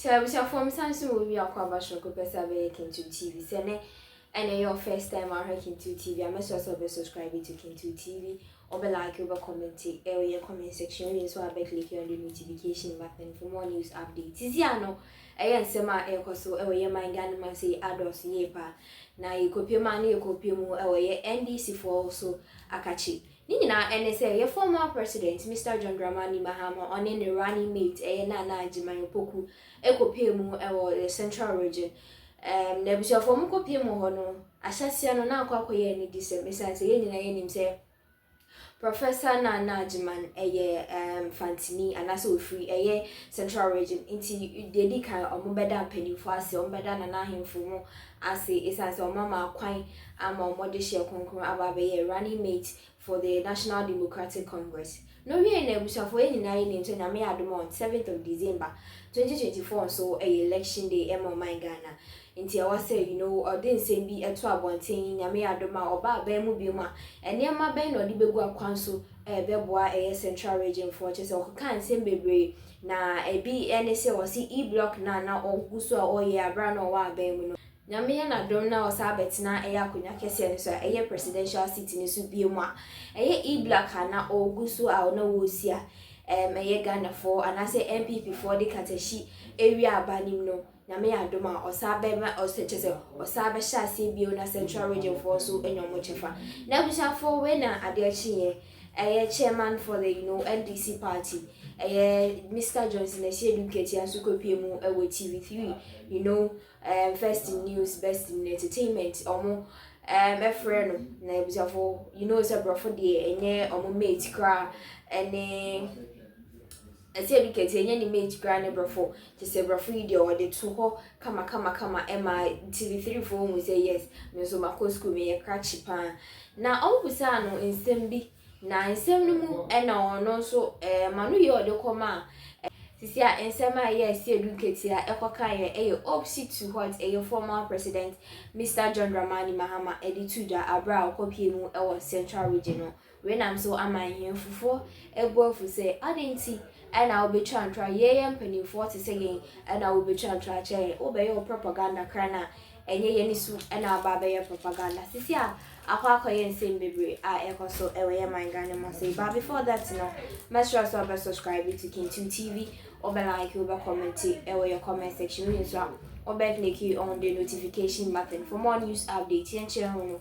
So abusuafoɔ mesa nso wɔ wi akɔ aba soro kɔpɛ sɛ abɛyɛ Kintu TV sɛ nɛ ɛna ɛyɛ first time ahwɛ Kintu TV a mɛsrɛ sɛ ɔbɛ subscribe to Kintu TV ɔbɛ like ɔbɛ comment ɛwɔ yɛ comment section ɔyɛ nso abɛ click on the notification button for more news updates sisi ano ɛyɛ nsɛm a ɛkɔ so ɛwɔ yɛ man Ghana man sɛ adɔs yie pa na yɛkɔpie ma no yɛkɔpie mu ɛwɔ yɛ NDC foɔ so akakye Ne nyinaa ne sɛ yɛ former president Mister John Dramani Mahama ɔne ne running mate ɛyɛ Nana Agyemang Opoku kɔpɛɛ mu wɔ the central region um na abusuafoɔ ɔmo kɔpɛɛ mu hɔ no ahyɛseɛ no na akɔ akɔyɛ anidisɛm ɛsiane sɛ yɛn nyinaa yɛnim sɛ Professor Nana Agyemang ɛyɛ um Fantini anaasɛ ofiri ɛyɛ central region nti deɛ ɛdi kan ɔmo bɛda mpanyinfoɔ ase ɔmo bɛda Nana ahemfo mo ase esiane sɛ wɔama kwan ama wɔde hyɛ kronkron aba abɛyɛ running mate for the National Democratic Congress no wiei na abusuafo yɛn nyinaa yɛ nim sɛ Nyame yɛ adom on seventh of December twenty twenty four nso ɛyɛ election day ɛma ɔman Ghana nti ɛwɔ sɛ you know ɔde nsɛm bi ɛto abɔnten Nyame yɛ adom a ɔba aban mu biom a nneɛma bɛn na ɔde bɛgu akwan so ɛɛbɛboa ɛyɛ central region foɔ kyɛ sɛ ɔkeka nsɛm bebree Na ɛbi ne sɛ ɔse E block no a na ɔgu so a ɔyɛ a bere a na ɔwɔ aban mu no. Nyame yɛ n'adom na ɔsan bɛtena ɛyɛ akonwa kɛseɛ no so a ɛyɛ presidential seat no so biom a ɛyɛ E block a na ɔgu so a na ɔresi a ɛyɛ Ghanafoɔ anaasɛ NPP foɔ de katahyi awia aba no mu no. Nyame adom a ɔsaa bɛma ɔsɛ kyɛ sɛ ɔsaa bɛhyɛ aseɛ bio na central region foɔ nso anya ɔmo kyɛfa na abusuafoɔ wei na adeɛ kyeeɛ ɛyɛ chairman for the you know NDC party ɛyɛ Mister Johnson Asiedu Nketia nso kɔ pie mu ɛwɔ TV three you know um, first in news best in entertainment ɔmo um, ɛfrɛ no na abusuafoɔ you know sɛ borɔfo deɛ ɛnyɛ ɔmo mate koraa ɛne. Ɛsɛ yɛde kɛntɛn nya ne mate koraa ne brɔfo te sɛ brɔfo yi deɛ ɔde to hɔ kama kama kama ɛma TV three foɔ hu sɛ yes me nso makɔ school meyɛ krakye paa na ɔmo bisaa no nsɛm bi na nsɛm no mu ɛna ɔno nso ɛɛ ma no yɛ ɔde kɔ maa sisi a nsɛm a ɛyɛ ɛsi edu nketea ɛkɔ kan yɛ ɛyɛ opsi to hot ɛyɛ former president Mister John Dramani Mahama ɛde tu da abere a ɔkɔ pie mu ɛwɔ central region no Wei nam so ama nhemfofo abu afu sɛ, Adɛn nti na wobetwa ntra? Yɛyɛ mpanimfoɔ te sɛ yɛn na wobetwa ntra kyerɛ yɛn. Wobɛyɛ wo propaganda koraa no a, ɛnyɛ yɛn su na aba abɛyɛ propaganda. Sisi a akɔ akɔyɛ nsɛm bebree a ɛkɔ so wɔ yɛn man Ghana mu ase yi. But before that no, mɛsrɛ wo sɛ wobɛ subscribe to Kintu TV, wobɛ like, wobɛ comment wɔ yɛ comment section, wei nso a wobɛ click on the notification button for more news update. Yɛnkyerɛ ho no.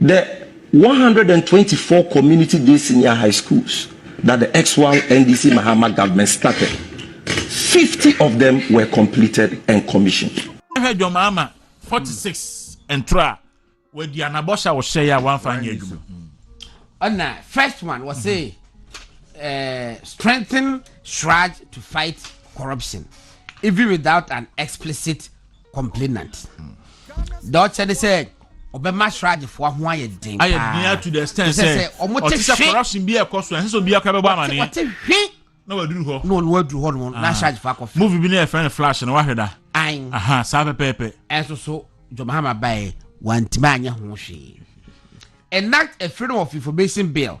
The one hundred and twenty four Community Day Senior High Schools that the Exwal NDC Mahama government started, fifty of them were completed and commissioned. Hwɛ John Mahama forty six ntoro a wadi anabɔhyɛ a wɔhyɛ yɛ a wɔamfa anyɛ adwuma. Ɛna first one wɔ se eh, strengthen SWRAJ to fight corruption even without an explicit complainant deɛ ɔkyɛ ne sɛ ɔbɛma sradefoɔ ho ayɛ den ayɛ den ato the extent sɛ ɔte sɛ corruption bi ɛkɔ so ɛnsɛ sɛ obiara bɛbɔ amaneɛ ɔte hwe na waduru hɔ na ɔno waduru hɔ no na ah. sradefoɔ akɔ fɛ movie bi ne yɛfrɛ no flash no wahwɛ da an aha saa pɛpɛɛpɛ ɛnso so jomahama baɛ wantumi anyɛ ho hwee enact a freedom of information bill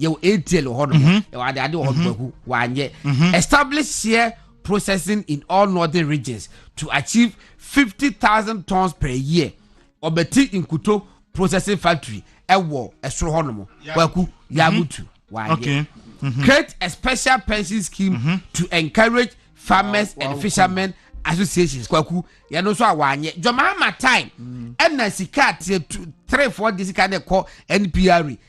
yɛwɔ atl wɔ hɔ nom mhm. yɛwɔ adeade wɔ hɔ nom mhm. aku wanyɛ mhm. establish here processing in all northern regions to achieve fifty thousand tons per year ɔbɛti nkuto processing factory ɛwɔ ɛsoro hɔ nom waku yamutu wanyɛ create a special pension scheme to encourage farmers and fishermen associations kwaku yɛn nso a wanyɛ jɔnmaama time ɛna sika ateɛ three four de sika de kɔ npr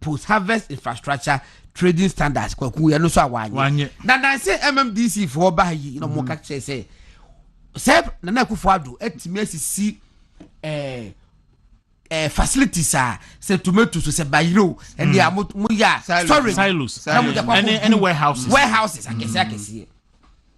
Post Harvest Infrastructure Trading Standards kwaku ɛno nso a wanyɛ na nansɛ MMDC foɔ baa yi na wɔn ka kyerɛ sɛ sɛ Nana Akufo Addo atumi asisi ɛɛ ɛɛ facilities a sɛ tomatoes sɛ bayerɛ o ɛne a mo yɛ a storage na mo de akɔ akɔ warehouses akɛseɛ akɛseɛ.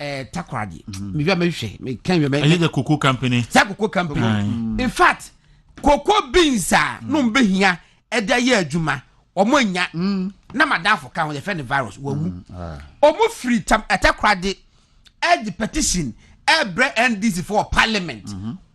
ɛɛ takoradi mm. mehwɛ mehwɛ meka nhwɛ mɛ. ɛyɛ the cocoa company. sɛ cocoa company mm. in fact cocoa beans a mm. nom bɛ hia ɛde ayɛ adwuma wɔn anya mm. na madafo ka ho yɛfɛ ne virus wɔn mu mm. ah. wɔn firi tam ɛtakoradi ɛde petition ɛbrɛ ndc for parliament. Mm -hmm.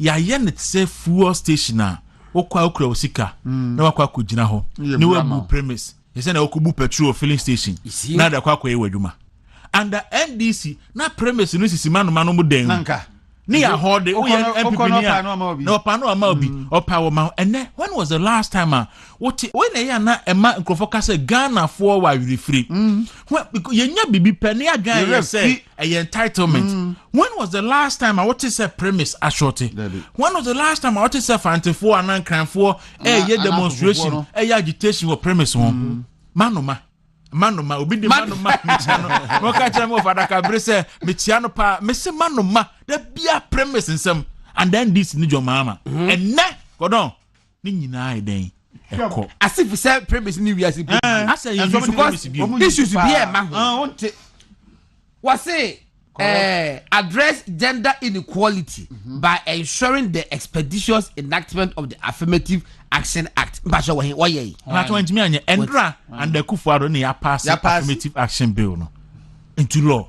Yɛayɛ no te sɛ fuel station a wokɔ a wokura wo sika na wakɔ akɔgyina hɔ na wabu premise te sɛ na wokɔbu petrol filling station na de akɔ akɔyɛ w'adwuma under ndc na premise no sisi manoma no mu dan ne yɛ ahɔ de woyɛ mpp ni a na ɔpa no ama obi mm. ɔpa wɔ ma ɛnɛ when was the last time a wote wei na ɛyɛ ana ɛma nkurɔfoɔ ka sɛ ghanafoɔ wɔ awerɛfiri mm. yɛnya biribi pɛ ne adwan yɛ sɛ ɛyɛ entitlement mm. when was the last time a wote sɛ premise ashorte when was the last time a wote sɛ fantefoɔ anaa nkranfoɔ ɛyɛ demonstration ɛyɛ agitation wɔ premise ho mm. manoma manoma obi de manoma mekyia no na ɔka kyerɛ me wɔfa adaka bere sɛ mekyia no paa mese manoma da bia premise nsɛm and then this ne dwɔmaama ɛnɛ mm-hmm. kɔdɔn Ne nyinaa ayɛ dɛn? Ɛkɔ. Ase fi sɛ premise ne wiase mpo bi. Eh, asɛ yɛ nsu premise bi. Issues bi yɛ ma ho. Ah, wonte. Wɔse eh, address gender inequality mm -hmm. by ensuring the expeditious enactment of the affirmative action act mpahyɛ wɔ he wɔyɛ yi. ɔnatɔ wɔn ntumi anyɛ ɛndra and akufo ado ne yɛ apaase affirmative action bill no nti law.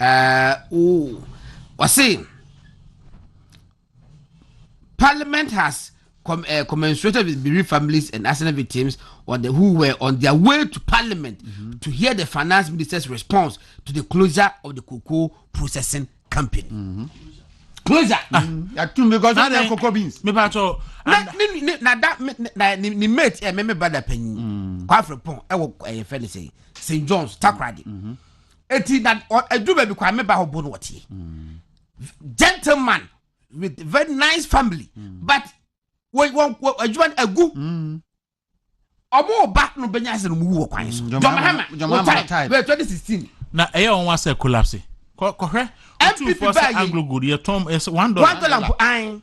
Uh, oh. Ɔse, Parliament has com, uh, commensurated with bereaved families and asset victims on the, who were on their way to Parliament mm -hmm. to hear the finance minister's response to the closure of the cocoa processing company. Mm -hmm. Closure. Ah. Mm -hmm. Yàtú mi kọ́ sọ́dọ̀ cocoa beans. Mi bá tọ́. Na ni ni na da na ni ni mate ẹ̀ mẹ́mẹ́ brada panyin. Mm. Kwafre pọ́n ẹ̀ wọ ẹ̀yẹ fẹ́ ni sẹ́yìn St John's Takoradi. Mm -hmm. eti na edu baabi kwa me ba hɔ bo no wɔteɛ mm. gentleman with very nice family mm. but wɔn wɔn adwuma no agu ɔmo ba no bɛnya ase no mu wɔ kwan so jɔmahama wɔ tae bɛɛ twenty sixteen. na ɛyɛ wɔn asɛ collapse kɔhwɛ npp baa yi anglo gold yɛ tɔn ɛsɛ one dollar one dollar mpo an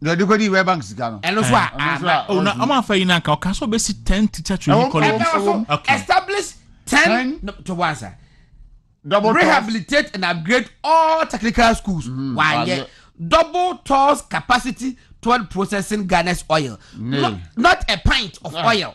na ɔde kɔdi World Bank sika no. ɛno so a Ɛno nso a, ana ɔma afa yi no anka ɔka sɛ ɔbɛsi 10 teacher training Ɛwɔ- college ɛka so Okay. establish ten Ten. no, to one side Double toss. rehabilitate and upgrade all technical schools Mhm, wayɛ wayɛ. double toss capacity toward processing ghana's oil Ne. not, not a pint of Ah. oil